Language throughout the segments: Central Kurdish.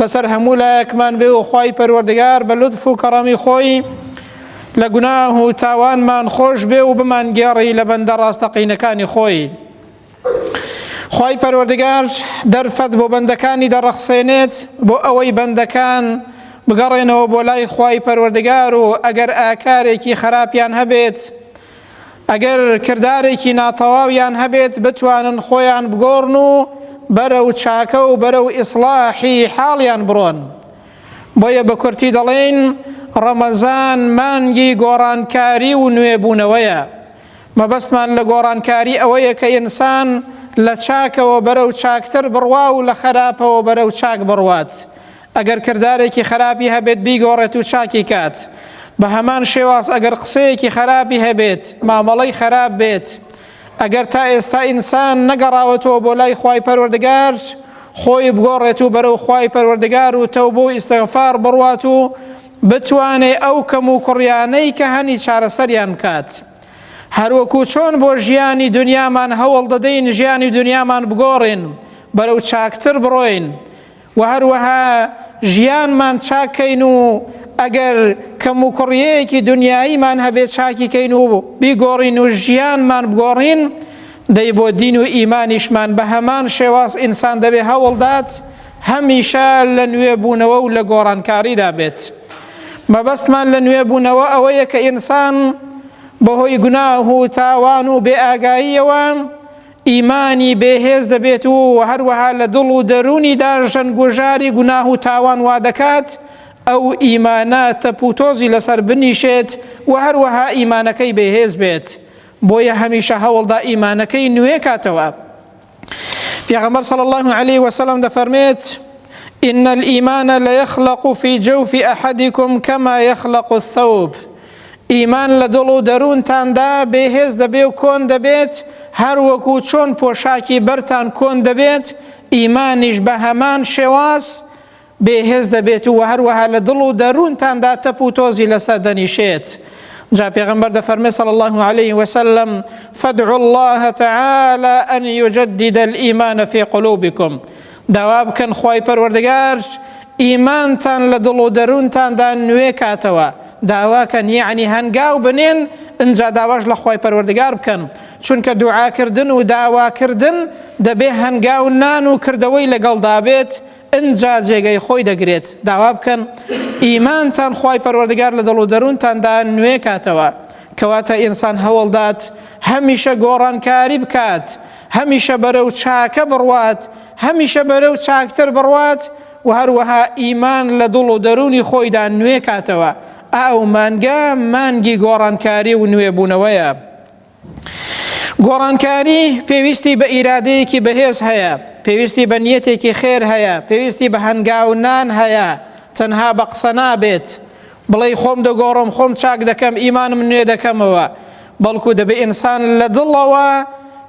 لەسەر هەموو لایەکمان بێ و خوای پەروەردگار بە لوتف و کەڕەمی خۆی لە گوناه و تاوانمان خۆش بێ و بمان گێڕی لە بەندە ڕاستەقینەکانی خۆی خوای پەروەردگار دەرفەت بۆ بەندەکانی دەڕەخسێنێت بۆ ئەوەی بەندەکان بگەڕێنەوە بۆ لای خوای پەروەردگار و ئەگەر ئاکارێکی خراپیان هەبێت ئەگەر کردارێکی ناتەواویان هەبێت بتوانن خۆیان بگۆڕن و بەرەو چاکە و بەرەو ئیسڵاحی حاڵیان بڕۆن. بۆیە بە کورتی دەڵێین ڕەمەزان مانگی گۆڕانکاری و نوێبوونەوەیە. مەبەستمان لە گۆڕانکاری ئەوەیە کە ئینسان لە چاکەوە بەرەو چاکتر بڕوا و لە خەراپەوە بەرەو چاک بڕوات. ئەگەر کردارێکی خەراپی هەبێت بیگۆڕێت و چاکی کات بە هەمان شێواز ئەگەر قسەیەکی خەراپی هەبێت مامەڵەی خەراپ بێت ئەگەر تا ئێستا ئینسان نەگەڕاوەتەوە بۆ لای خوای پەروەردگار خۆی بگۆڕێت و بەرەو خوای پەروەردگار و تەو بۆ ئیسەغفار بڕوات و بتوانێ ئەو کەم و کوڕیانەی کە هەنی چارەسەریان بکات. هەروەکو چۆن بۆ ژیانی دنیامان هەوڵ دەدەین ژیانی دنیامان بگۆڕین بەرەو چاکتر بڕۆین و هەروەها ژیانمان چاک کەین و ئەگەر کەم و کوڕیەیەکی دنیاییمان هەبێ چاکی کەین و بیگۆڕین و ژیانمان بگۆڕین دەی بۆ دین و ئیمانیشمان بە هەمان شێواز ئینسان دەبێ هەوڵدات هەمیشە لە نوێ بوونەوە و لە گۆڕانکاریدا بێت مەبەستمان لە نوێ بوونەوە ئەوەیە کە ئینسان بەهۆی گوناه و تاوان و بێ ئاگاییەوە ئیمانی بێهێز دەبێت و هەروەها لە دڵ و دەروونی داژەن گوژاری گوناه و تاوان وا دەکات ئەو ئیمانە تەپ و تۆزی لەسەر بنیشێت و هەروەها ئیمانەکەی بێهێز بێت بۆیە هەمیشە هەوڵدا ئیمانەکەی نوێ کاتەوە پێغەمبەر صلی الله عليه وسلم دەفەرمێت إن الإيمان ليخلق في جوف أحدكم كما يخلق الثوب ئیمان لە دڵ و دەروونتاندا بێهێز دەبێ و کۆن دەبێت، هەر وەکو چۆن پۆشاکی بەرتان کۆن دەبێت، ئیمانیش بە هەمان شێواز بێهێز دەبێت و هەروەها لە دڵ و دەروونتاندا تەپ و تۆزی لەسەر دەنیشێت. جا پێغەمبەر دەفەرمێ صلی الله علیه وسلم فدعوا الله تعالی ان یجدد الايمان فی قلوبکم داوا بکەن خوای پەروەردگار ئیمانتان لە دڵ و دەروونتاندا نوێ کاتەوە، داواکەن یەعنی هەنگاو بنێن ئنجا داواش لە خوای پەروەردگار بکەن، چونکە دوعاکردن و داواکردن دەبێ هەنگاو نان و کردەوەی لەگەڵدا بێت ئنجا جێگەی خۆی دەگرێت، داوا بکەن ئیمانتان خوای پەروەردگار لە دڵ و دەروونتاندا نوێ کاتەوە، کەواتە ئینسان هەوڵدات هەمیشە گۆڕانکاری بکات، هەمیشە بەرەو چاکە بڕوات، هەمیشە بەرەو چاکتر بڕوات و هەروەها ئیمان لە دڵ و دەروونی خۆیدا نوێ کاتەوە، ئەو مانگە مانگی گۆڕانکاری و نوێبوونەوەیە. گۆڕانکاری پێویستی بە ئیرادەیەکی بەهێز هەیە، پێویستی بە نیەتێکی خێر هەیە، پێویستی بە هەنگاونان هەیە، تەنها بە قسە نابێت، بڵێی خۆم دەگۆڕم خۆم چاک دەکەم ئیمانم نوێ دەکەمەوە بەڵکو دەبێ ئینسان لە دڵەوە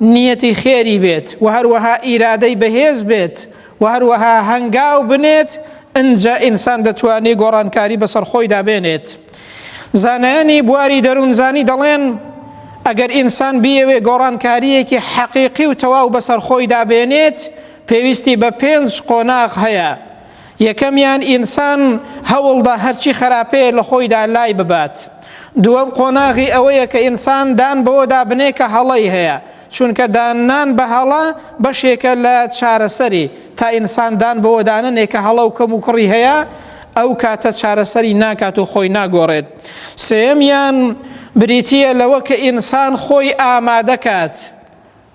نیەتی خێری بێت و هەروەها ئیرادەی بەهێز بێت و هەروەها هەنگاو بنێت ئنجا ئینسان دەتوانێت گۆڕانکاری بەسەر خۆیدا بێنێت زانایانی بواری دەروونزانی دەڵێن ئەگەر ئینسان بیەوێ گۆڕانکاریەکی حەقیقی و تەواو بەسەر خۆیدا بێنێت پێویستی بە پێنج قۆناغ هەیە یەکەمیان ئینسان هەوڵدا هەرچی خەراپەیە لە خۆیدا لای ببات. دووەم قۆناغی ئەوەیە کە ئینسان دان بەوەدا بنێ کە هەڵەی هەیە، چونکە داننان بە هەڵە بەشێکە لە چارەسەری، تا ئینسان دان بەوەدا نەنێ کە هەڵە و کەموکوڕی هەیە، ئەو کاتە چارەسەری ناکات و خۆی ناگۆڕێت. سێیەمیان بریتییە لەوە کە ئینسان خۆی ئامادە کات.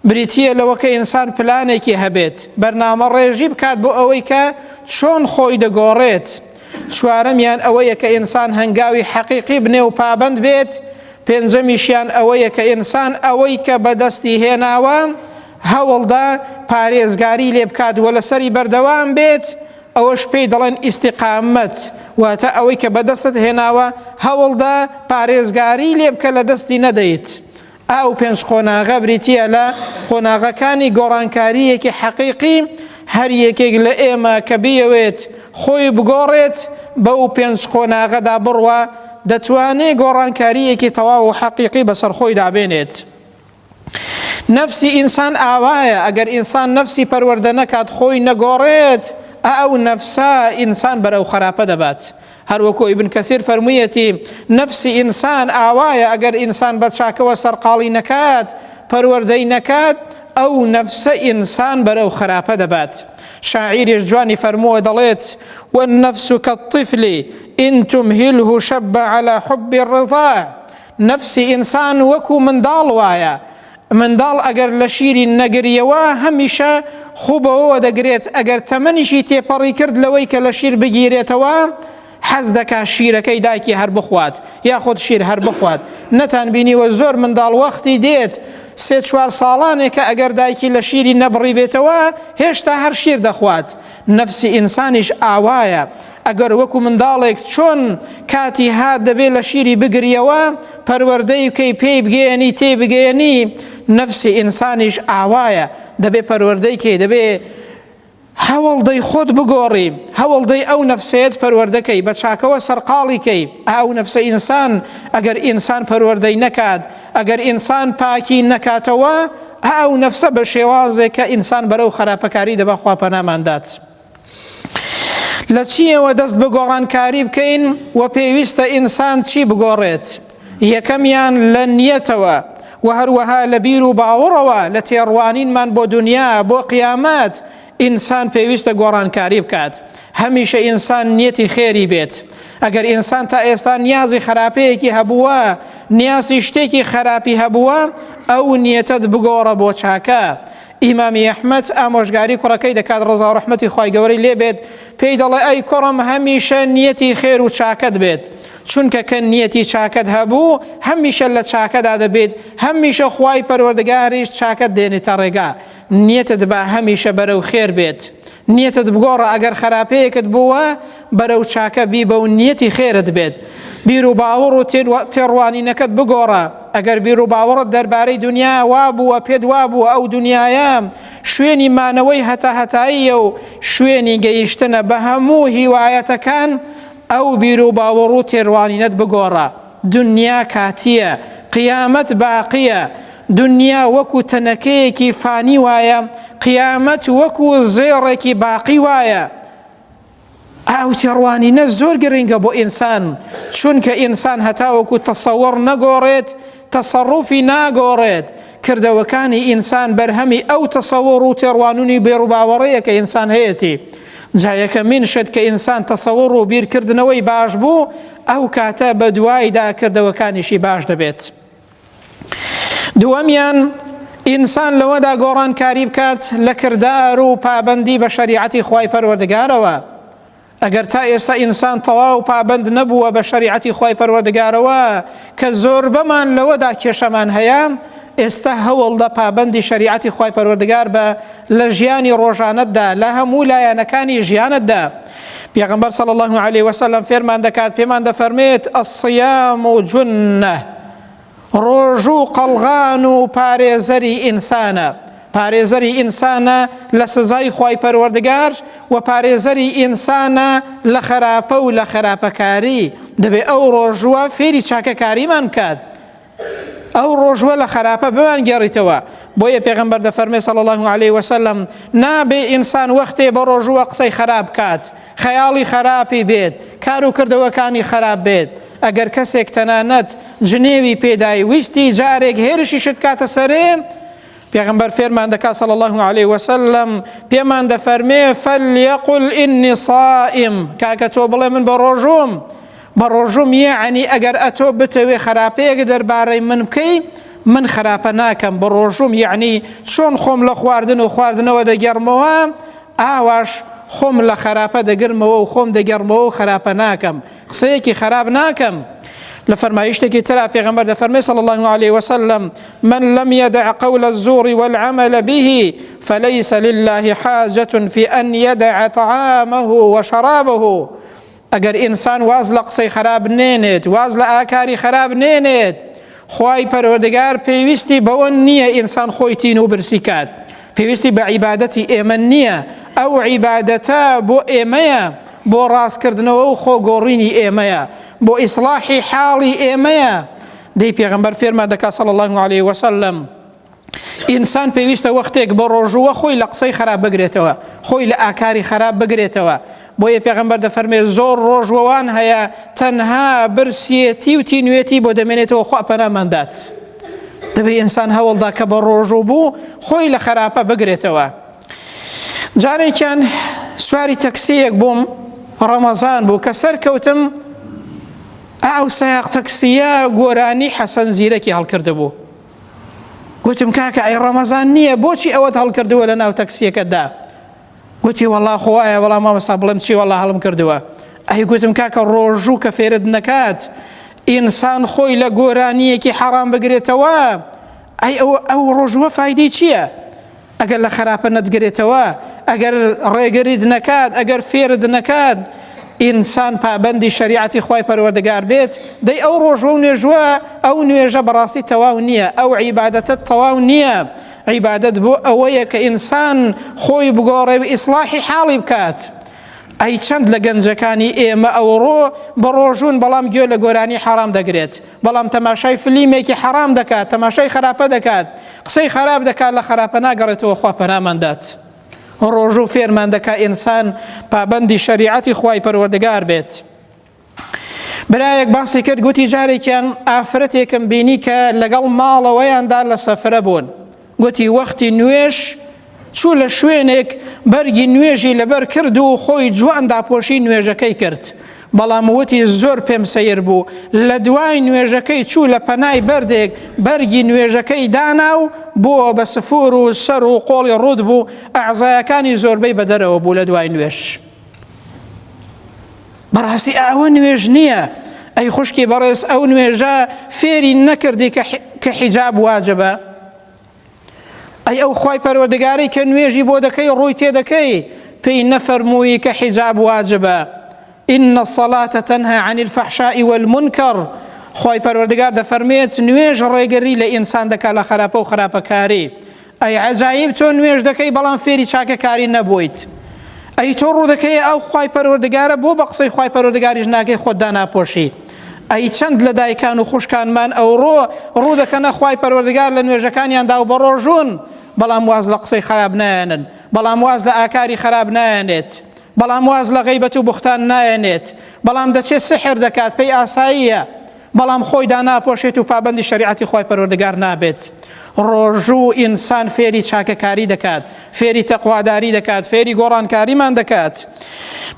بریتییە لەوە کە ئینسان پلانێکی هەبێت، بەرنامەڕێژی بکات بۆ ئەوەی کە چۆن خۆی دەگۆڕێت. چوارەمیان ئەوەیە کە ئینسان هەنگاوی حەقیقی بنێ و پابەند بێت. پێنجەمیشیان ئەوەیە کە ئینسان ئەوەی کە بەدەستی هێناوە هەوڵدا پارێزگاری لێ بکات و لەسەری بەردەوام بێت، ئەوەش پێی دەڵێن ئیستیقامەت، واتە ئەوەی کە بەدەستت هێناوە هەوڵدا پارێزگاری لێ بکە لە دەستی نەدەیت. ئەو پێنج قۆناغە بریتییە لە قۆناغەکانی گۆڕانکارییەکی حەقیقی، هەر یەکێک لە ئێمە کە بیەوێت خۆی بگۆڕێت بەو پێنج قۆناغەدا بڕوا دەتوانێت گۆڕانکارییەکی تەواو و حەقیقی بەسەر خۆیدا بێنێت. نەفسی ئینسان ئاوایە، ئەگەر ئینسان نەفسی پەروەردە نەکات خۆی نەگۆڕێت، ئەو نەفسە ئینسان بەرەو خەراپە دەبات، هەروەکو ئیبن کەسیر فەرموویەتی نەفسی ئینسان ئاوایە ئەگەر ئینسان بە چاکەوە سەرقاڵی نەکات پەروەردەی نەکات ئەو نەفسە ئینسان بەرەو خراپە دەبات شاعیریش جوانی فەرمووە دەڵێت والنفس كالطفل إن تمهله شب على حب الرضاع نفسی ئینسان وەکو منداڵ وایە منداڵ ئەگەر لە شیرین نەگریەوە هەمیشە خوو بەوەوە دەگرێت ئەگەر تەمەنیشی تێپەڕی کرد لەوەی کە لە شیر بگیرێتەوە حەز دەکا شیرەکەی دایکی هەر بخوات یاخود شیر هەر بخوات نەتان بینیوە زۆر منداڵ وەختی دێت سێ چوار ساڵانێکە ئەگەر دایکی لە شیری نەبڕی بێتەوە هێشتا هەر شیر دەخوات نەفسی ئینسانیش ئاوایە، ئەگەر وەکو منداڵێک چۆن کاتی هات دەبێ لە شیری بگریەوە، پەروەردەی بکەی پێی بگەیەنی تێی بگەیەنی، نەفسی ئینسانیش ئاوایە، دەبێ پەروەردەی کەی، دەبێ هەوڵدەی خۆت بگۆڕی، هەوڵدەی ئەو نەفسەیەت پەروەردە کەی، بە چاکەوە سەرقاڵی کەی، ئا ئەو نەفسە ئینسان ئەگەر ئینسان پەروەردەی نەکات، ئەگەر ئینسان پاکی نەکاتەوە، ئا ئەو نەفسە بە شێوازێک کە ئینسان بەرەو خراپەکاری دەبا خوا پەنامان دات. لە چیەوە دەست بە گۆڕانکاری بکەین و پێویستە ئینسان چی بگۆڕێت؟ یەکەمیان لە نیەتەوە و هەروەها لە بیر و باوەڕەوە لە تێڕوانینمان بۆ دنیا بۆ قیامەت ئینسان پێویستە گۆڕانکاری بکات هەمیشە ئینسان نیەتی خێری بێت ئەگەر ئینسان تا ئێستا نیازی خراپەیەکی هەبووە نیازی شتێکی خراپی هەبووە ئەو نیەتت بگۆڕە بۆ چاکە ئیمامی ئەحمەد ئامۆژگاری کوڕەکەی دەکات ڕزا و ڕحمەتی خی گەورەی لێ بێت پێی دەڵێ ئەی کوڕم هەمیشە نیەتی خێر و چاکەت بێت چونکە کە نیەتی چاکەت هەبوو هەمیشە لە چاکەدا دەبێت هەمیشە خی پەروەردگاریش چاکەت دێنێتە ڕێگا نیەتت با هەمیشە بەرەو خێر بێت نیەتت بگۆڕە ئەگەر خەراپەیەکت بووە بەرەو چاکە بیبە و نیەتی خێرت بێت بیر و باوەڕ و تێڕوانینەکەت بگۆڕە ئەگەر بیر و باوەڕت دەربارەی دنیا وا بووە پێت وا بووە ئەو دنیاە شوێنی مانەوەی هەتا هەتاییە و شوێنی گەیشتنە بە هەموو هیوایەتەکان ئەو بیر و باوەڕ و تێڕوانینەت بگۆڕە دونیا کاتییە، قیامەت باقییە. دونیا وەکو تەنەکەیەکی فانی وایە، قیامەت وەکو زێڕێکی باقی وایە. ئەو تێڕوانینە زۆر گرنگە بۆ ئینسان، چونکە ئینسان هەتاوەکو تەسەوڕ نەگۆڕێت، تەسەڕوفی ناگۆڕێت. کردەوەکانی ئینسان بەرهەمی ئەو تەسەوڕ و تێڕوانین و بیروباوەڕەیە کە ئینسان هەیەتی. جا یەکەمین شت کە ئینسان تەسەوڕ و بیرکردنەوەی باش بوو، ئەو کاتە بە دوایدا کردەوەکانیشی باش دەبێت. دووەمیان ئینسان لەوەدا گۆڕانکاری بکات لە کردار و پابەندی بە شەریعەتی خوای پەروەردگارەوە. ئەگەر تا ئێستا ئینسان تەواو پابەند نەبووە بە شەریعەتی خوای پەروەردگارەوە کە زۆربەمان لەوەدا کێشەمان هەیە، ئێستا هەوڵدە پابەندی شەریعەتی خوای پەروەردگار بە لە ژیانی ڕۆژانەتدا لە هەموو لایەنەکانی ژیانتدا. پێغەمبەر صلی الله علیه وسلم فێرمان دەکات پێمان دەفەرمێت الصیام جنە ڕۆژو قەڵغان و پارێزەری ئینسانە پارێزەری ئینسانە لە سزای خی پەروەردگار و پارێزەری ئینسانە لە خراپە و لە خراپەکاری دەبێ ئەو ڕۆژووە فێری چاکەکاریمان بکات ئەو ڕۆژوە لە خەراپە بمان گێڕیتەوە بۆیە پێغمبەر دەفەرمێ صلی الله علیه وسلم نابێ ئینسان وەختێ بە ڕۆژوە قسەی خراپ کات خەیاڵی خراپی بێت کار و کردەوەکانی خراپ بێت ئەگەر کەسێک تەنانەت جنێوی پێدای ویستی جارێک هێرشی شت کاتە سەرێ پێغمبەر فێرمان دەکات صلی الله عليه وسلم پێمان دەفەرمێ فەلیەقل ئینی صائم کاکە تۆ بڵێ من بە ڕۆژوم بەڕۆژووم یەعنی ئەگەر ئەتۆ بتەوێ خەراپەیەک دەربارەی من بکەی من خەراپە ناکەم بەڕۆژووم یەعنی چۆن خۆم لە خواردن و خواردنەوە دەگێڕمەوە ئاواش خۆم لە خەراپە دەگرمەوە و خۆم دەگێڕمەوە و خەراپە ناکەم قسەیەکی خەراپ ناکەم لە فەرمایشتێکی ترا پێغەمبەر دەفەرمێ صلی الله عليه وسلم من لم يدع قول الزور والعمل به فليس لله حاجة في أن يدع طعامه وشرابه ئەگەر ئینسان واز لە قسەی خەراب نێنێت واز لە ئاکاری خەراب نێنێت خوای پەروەردگار پێویستی بەوە نییە ئینسان خۆی تین و برسی کات پێویستی بە عیبادەتی ئێمە نییە ئەو عیبادەتە بۆ ئێمەیە بۆ ڕاستکردنەوە و خۆگۆڕینی ئێمەیە بۆ ئیسلاحی حاڵی ئێمەیە دەی پێغمبەر فێرمان دەکات سەڵ الله عليه وسلم ئینسان پێویستە وەختێک بە ڕۆژووە خۆی لە قسەی خراپ بگرێتەوە خۆی لە ئاکاری خراپ بگرێتەوە بۆ یە پێغمبەر دەفەرمێ زۆر ڕۆژوەوان هەیە تەنها برسیەتی و تینوێتی بۆ دەمێنێتەوە خوا پەناماندات دەبێ ئینسان هەوڵدا کە بە ڕۆژوو بوو خۆی لە خراپە بگرێتەوە جارێکیان سواری تەکسیەک بووم ڕەمەزان بوو کە سەرکەوتم ئەو سایق تەکسیە گۆرانی حەسەن زیرەکی هەڵکردبوو گوتم کاکە ئەی ڕەمەزان نییە بۆچی ئەوەت هەڵکردووە لە ناو تەکسیەکەدا گوتی وەڵا خۆایە وەڵا مامەسا بڵێم چی وەڵا هەڵم کردووە ئەی گوتم کاکە ڕۆژوو کە فێرت نەکات ئینسان خۆی لە گۆرانیەکی حەڕام بگرێتەوە ئەی ئەو ئەو ڕۆژووە فیدی چییە؟ ئەگەر لە خەراپە نەتگرێتەوە، ئەگەر ڕێگریت نەکات، ئەگەر فێرت نەکات ئینسان پابەندی شەریعەتی خوای پەروەردگار بێت، دەی ئەو ڕۆژوە و نوێژوە، ئەو نوێژە بەڕاستی تەواو نییە، ئەو عیبادەتە تەواو نییە، عیبادەت بۆ ئەوەیە کە ئینسان خۆی بگۆڕێ و ئیسڵاحی حاڵی بکات. ئەی چەند لە گەنجەکانی ئێمە ئەوڕۆ بە ڕۆژوون بەڵام گوێ لە گۆرانی حەڕام دەگرێت، بەڵام تەماشای فلیمێکی حەرام دەکات تەماشای خراپە دەکات قسەی خراپ دەکات لە خراپە ناگەڕێتەوە خوا پەنامان دات ڕۆژوو فێرمان دەکا ئینسان پابەندی شەریعەتی خوای پەروەردگار بێت برایەک باسی کرد گوتی جارێکیان ئافرەتێکم بینی کە لەگەڵ ماڵەوەیاندا لە سەفرە بوون گوتی وەختی نوێژ چوو لە شوێنێک بەرگی نوێژی لەبەر کرد و خۆی جوان داپۆشی نوێژەکەی کرد، بەڵام وتی زۆر پێم سەیر بوو، لە دوای نوێژەکەی چوو لە پەنای بەردێک بەرگی نوێژەکەی دانا و بووە بە سفور و سەر و قۆڵی ڕووت بوو، ئەعزایەکانی زۆربەی بە دەرەوە بوو لە دوای نوێژ. بەڕاستی ئاوە نوێژ نییە ئەی خوشکی بەڕێز ئەو نوێژە فێری نەکردی کە حیجاب واجبە ئەی ئەو خی پەروەردگاری کە نوێژی بۆ دەکەی ڕووی تێ دەکەی پێی نەفەرمووی کە حیجاب واجبە إن الصلاة تنهى عن الفحشاء والمنكر خی پەروەردگار دەفەرمێت نوێژ ڕێگەری لە ئینسان دەکات لە خراپە و خراپەکاری ئەی عەجایب تۆ نوێژ دەکەی بەڵام فێری چاکەکاری نەبوویت ئەی تۆ ڕوودەکەی ئەو خوای پەروەردگارە بۆ بە قسەی خوای پەروەردگاریش ناکەی خۆت داناپۆشی ئەی چەند لە دایکان و خوشکانمان ئەوڕۆ ڕوو دەکەنە خوای پەروەردگار لە نوێژەکانیاندا و بەڕۆژون بەڵام واز لە قسەی خراپ نایەنن بەڵام واز لە ئاکاری خراپ نایەنێت بەڵام واز لە غیبەت و بوختان نایەنێت بەڵام دەچێت سحر دەکات پێی ئاساییە بەڵام خۆی داناپۆشێت و پابەندی شەریعەتی خوای پەروەردگار نابێت، ڕۆژوو ئینسان فێری چاکەکاری دەکات، فێری تەقواداری دەکات، فێری گۆڕانکاریمان دەکات،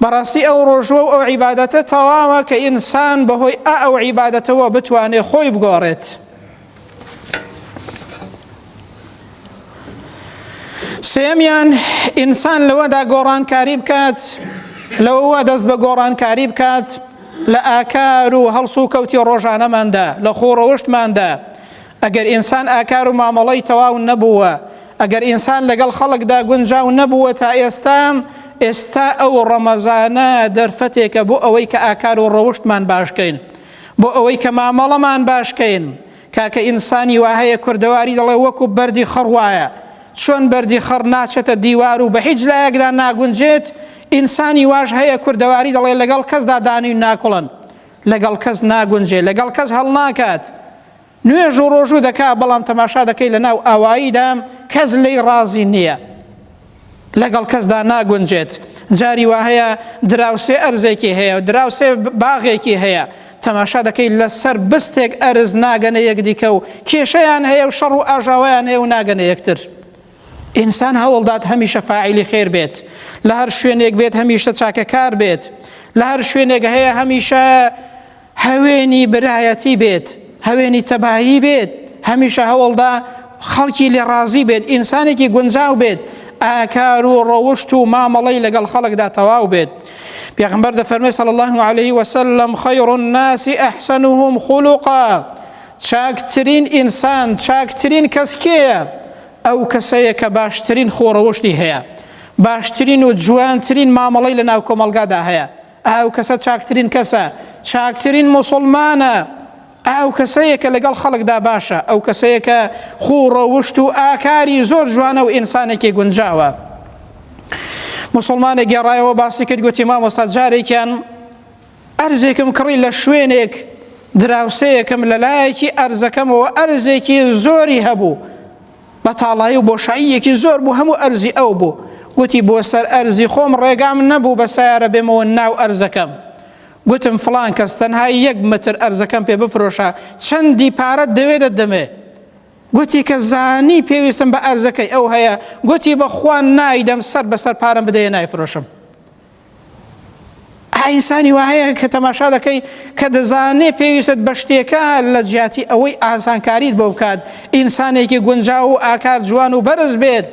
بەڕاستی ئەو ڕۆژوە و ئەو عیبادەتە تەواوە کە ئینسان بەهۆی ئا ئەو عیبادەتەوە بتوانێت خۆی بگۆڕێت. سێمیان ئینسان لەوەدا گۆڕانکاری بکات لەوەوە دەست بە گۆڕانکاری بکات لە ئاکار و هەڵسو و کەوتی ڕۆژانەماندا لە خۆڕەوشتماندا ئەگەر ئینسان ئاکار و مامەڵی تەواو نەبووە ئەگەر ئینسان لەگەڵ خەڵکدا گونجاو نەبووە تا ئێستا ئێستا ئەو ڕەمەزانە دەرفەتێکە بۆ ئەوەی کە ئاکار و ڕەوشتمان باشکەین بۆ ئەوەی کە مامەڵەمان باش کەین کاکە ئینسانی وا هەیە کوردەواری دەڵێ وەکو بەردی خەڕ وایە چۆن بەردی خەڕ ناچێتە دیوار و بە هیچ لایەکدا ناگونجێت ئینسانی واش هەیە کوردەواری دەڵێ لەگەڵ کەسدا دانوی ناکوڵن لەگەڵ کەس ناگونجێ لەگەڵ کەس هەڵناکات نوێژ و ڕۆژوو دەکا بەڵام تەماشا دەکەی لە ناو ئاواییدا کەس لێی ڕازی نییە لەگەڵ کەسدا ناگونجێت جاری وا هەیە دراوسێ ئەرزێکی هەیە و دراوسێ باغێکی هەیە تەماشا دەکەی لەسەر بستێک ئەرز ناگەنە یەکدیکە و کێشەیان هەیە و شەڕ و ئاژاوایان هەیە و ناگەنە یەکتر ئینسان هەوڵدات هەمیشە فاعلی خێر بێت لە هەر شوێنێک بێت هەمیشە چاکەکار بێت لە هەر شوێنێک هەیە هەمیشە هەوێنی برایەتی بێت، هەوێنی تەبایی بێت، هەمیشە هەوڵدا خەڵکی لێ ڕازی بێت، ئینسانێکی گونجاو بێت، ئاکار و ڕەوشت و مامەڵەی لەگەڵ خەڵکدا تەواو بێت. پێغمبەر دەفەرمێ صلی الله علیه وسلم خیر الناس احسنهم خلقا چاکترین ئینسان چاکترین کەس کێیە؟ ئەو کەسەیە کە باشترین خۆڕەوشتی هەیە باشترین و جوانترین مامەڵەی لە ناو کۆمەڵگادا هەیە ئه و کەسە چاکترین کەسە، چاکترین موسڵمانە، ئه و کەسەیە کە لەگەڵ خەڵکدا باشە، ئه و کەسەیە کە خوو و ڕەوشت و ئاکاری زۆر جوانە و ئینسانێکی گونجاوە. موسڵمانێک گێڕایەوە باسی کرد گوتی مامۆستا جارێکیان ئەرزێکم کڕی لە شوێنێک دراوسەیەکم لە لایەکی ئەرزەکەمەوە ئەرزێکی زۆری هەبوو بەتاڵایی و بۆشاییەکی زۆر بوو هەموو ئەرزی ئەو بوو گوتی بۆ سەر ئەرزی خۆم ڕێگام نەبوو بە سیارە بێمەوە ناو ئەرزەکەم گوتم فلان کەس تەنها یەک متر ئەرزەکەم پێ بفرۆشە چەندی پارەت دەوێ دەدەمێ گوتی کە زانی پێویستم بە ئەرزەکەی ئەو هەیە گوتی بە خوان نایدەم سەر بەسەر پارەم بدەیە نایفرۆشم ئینسانی وا هەیە کە تەماشا دەکەی کە دەزانێ پێویستت بە شتێکە لە جیاتی ئەوەی ئاسانکاریت بۆ بکات ئینسانێکی گونجاو و ئاکار جوان و بەرز بێت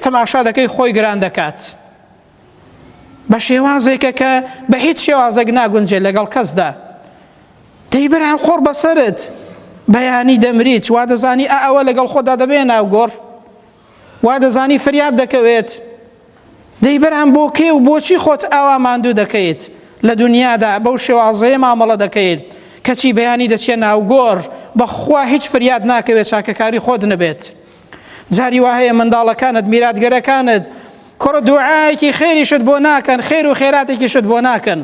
تەماشا دەکەی خۆی گران دەکات بە شێوازێکە کە بە هیچ شێوازێک ناگونجێت لەگەڵ کەسدا دەی بەرام خۆڕ بەسرت بەیانی دەمریت وا دەزانی ئەوە لەگەڵ خۆدا دەبێ ناوگۆڕ وا دەزانی فریاد دەکەوێت، دەی برام بۆ کێ و بۆچی خۆت ئاوا ماندوو دەکەیت؟ لە دونیادا بەو شێوازەیە مامەڵە دەکەیت، کەچی بەیانی دەچیە ناو گۆڕ، بەخوا هیچ فریاد ناکەوێت چاکەکاری خۆت نەبێت. جاری وا هەیە منداڵەکانت، میراتگەرەکانت، کوڕ دوعایەکی خێریشت بۆ ناکەن، خێر و خێراتێکیشت بۆ ناکەن.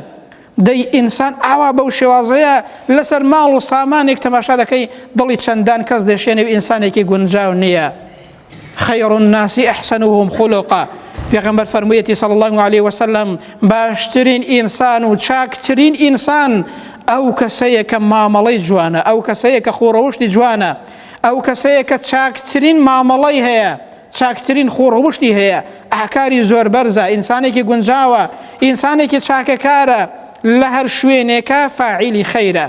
دەی ئینسان ئاوا بەو شێوازەیە لەسەر ماڵ و سامانێک تەماشا دەکەی دڵی چەندان کەس دەشێنێ و ئینسانێکی گونجاو نییە خیر الناس احسنهم خلقا پێغمبەر فەرموویەتی صلی الله عليه وسلم باشترین ئینسان و چاکترین ئینسان ئەو کەسەیە کە مامەڵەی جوانە ئەو کەسەیە کە خۆڕەوشتی جوانە ئەو کەسەیە کە چاکترین مامەڵەی هەیە چاکترین خو روشتی هەیە ئاکاری زۆر بەرزە ئینسانێکی گونجاوە ئینسانێکی چاکەکارە لە هەر شوێنێکە فاعیلی خەیرە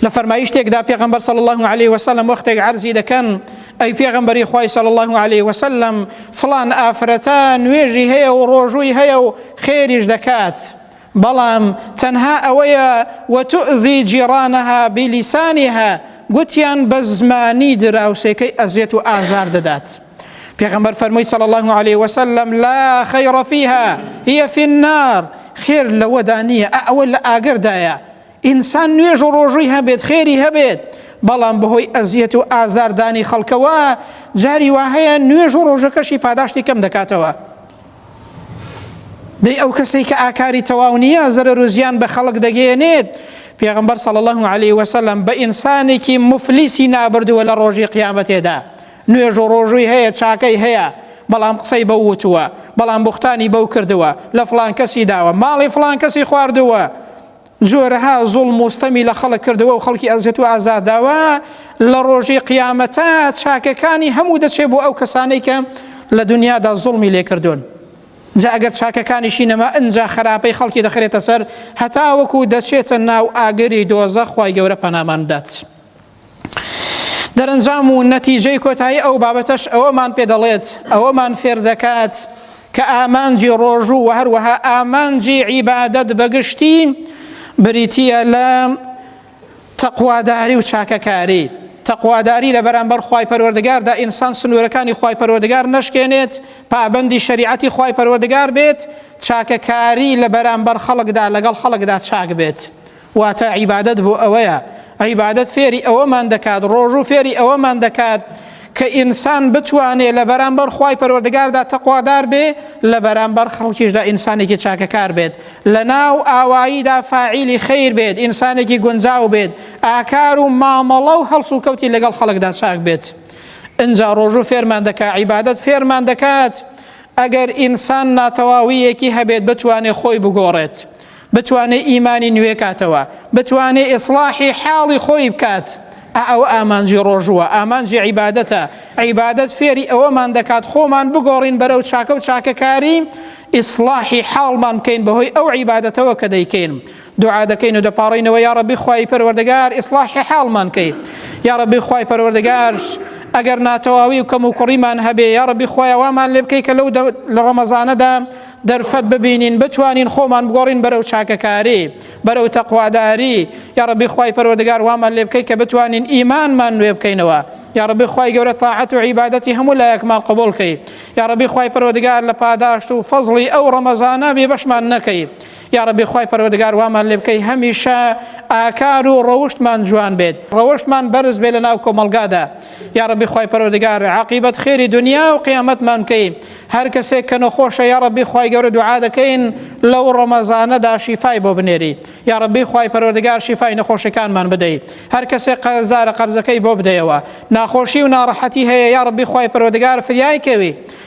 لە فەرمایشتێکدا پێغمبەر صلی الله عليه وسلم وەختێک عرضی دەکەن ئەی پێغمبەری خی صلی الله عليه وسلم فلان ئافرەتە نوێژی هەیە و ڕۆژووی هەیە و خێریش دەکات بەڵام تەنها ئەوەیە وتؤذی جیڕانەها بلیسانها گوتیان بە زمانی دراوسێکەی ئەزیەت و ئازار دەدات پێغەمبەر فەرمووی صلی الله علیه وسلم لا خیر فیها هی فی النار خێر لەوەدا نییە ئەوە لە ئاگردایە ئینسان نوێژ و ڕۆژووی هەبێت خێری هەبێت بەڵام بەهۆی ئەزیەت و ئازاردانی خەڵکەوە جاری وا هەیە نوێژ و ڕۆژەکەشی پاداشتی کەم دەکاتەوە دەی ئەو کەسەی کە ئاکاری تەواو نییە زەرەر و زیان بە خەڵک دەگەێنێت پێغمبەر صلی الله عليه وسلم بە ئینسانێکی مفلیسی نابردووە لە ڕۆژی قیامەتێدا نوێژ و ڕۆژووی هەیە چاکەی هەیە بەڵام قسەی بەو وتووە بەڵام بوختانی بەو کردووە لە فلان کەسی داوە ماڵی فلان کەسی خواردووە جۆرەها زوڵم و ستەمی لە خەڵک کردووە و خەڵکی ئەزیەت و ئازار داوە، لە ڕۆژی قیامەتا چاکەکانی هەموو دەچێ بۆ ئەو کەسانەی کە لە دونیادا زوڵمی لێ کردوون. جا ئەگەر چاکەکانیشی نەما ئنجا خەراپەی خەڵکی دەخرێتە سەر هەتاوەکو دەچێتە ناو ئاگری دۆزەخ خوای گەورە پەنامان بدات. دەرەنجام و نەتیجەی کۆتایی ئەو بابەتەش ئەوەمان پێ دەڵێت ئەوەمان فێر دەکات کە ئامانجی ڕۆژوو و هەروەها ئامانجی عیبادەت بەگشتی بریتە لە تەقواداری و چاکەکاری تەقواداری لە بەرامبەر خی پەروەردگاردا ئینسان سنوورەکانی خی پەروەردگار نشکێنێت پابندی شریعەتی خی پەروەردگار بێت چاکەکاری لە بەرامبەر خەڵکدا لەگەڵ خەڵکدا چاک بێت. واتە عیبادەت بۆ ئەوەیە، عیبادەت فێری ئەوەمان دەکات، ڕۆژوو فێری ئەوەمان دەکات کە ئینسان بتوانێ لە بەرامبەر خوای پەروەردگاردا تەقوادار بێ، لە بەرامبەر خەڵکیشدا ئینسانێکی چاکەکار بێت، لە ناو ئاواییدا فاعیلی خەیر بێت، ئینسانێکی گونجاو بێت، ئاکار و مامەڵە و هەڵسوکەوتی لەگەڵ خەڵکدا چاک بێت. ئینجا ڕۆژوو فێرمان دەکات، عیبادەت فێرمان دەکات ئەگەر ئینسان ناتەواوییەکی هەبێت بتوانێ خۆی بگۆڕێت. بتوانێ ئیمانی نوێ کاتەوە بتوانێ ئیسڵاحی حاڵی خۆی بکات ئا ئەوە ئامانجی ڕۆژووە ئامانجی عیبادەتە عیبادەت فێری ئەوەمان دەکات خۆمان بگۆڕین بەرەو چاکە و چاکەکاری ئیسڵاحی حاڵمان بکەین بەهۆی ئەو عیبادەتەوە کە دەیکەین دوعا دەکەین و دەپاڕینەوە یا ڕەبی خوای پەروەردەگار ئیسڵاحی حاڵمان کەی یا ڕەبی خوای پەروەردەگار ئەگەر ناتەواوی و کەم و کوڕیمان هەبێ یا ڕەبی خوای وامان لێ بکەی کە لەو لە ڕەمەزانەدا دەرفەت ببینین بتوانین خۆمان بگۆڕین بەرەو چاکەکاری بەرەو تەقواداری یا ڕەبی خوای پەروەردگار وامان لێ بکەی کە بتوانین ئیمانمان نوێ بکەینەوە یا ڕەبی خوای گەورە تاعەت و عیبادەتی هەموو لایەکمان قبول کەی یا ڕەبی خوای پەروەردگار لە پاداشت و فەزڵی ئەو ڕەمەزانە بێبەشمان نەکەی یاڕەبی خوای پەروەردگار وامان لێ بکەی هەمیشە ئاکار و ڕەوشتمان جوان بێت ڕەوشتمان بەرز بێ لە ناو کۆمەلگادا یاڕەبی خوای پەروەردگار عقیبەت خێری دنیا و قیامەتمان بکەی هەر کەسێک کە نەخۆشە یاڕەبی خوای گەورە دوعا دەکەین لەو ڕەمەزانەدا شیفای بۆ بنێری یاڕەبی خوای پەروەردگار شیفای نەخۆشەکانمان بدەیت هەر کەسێک قەرزارە قەرزەکەی بۆ بدەیەوە ناخۆشی و ناڕەحەتی هەیە یاڕەبی خوای پەروەردگار فریای کەوی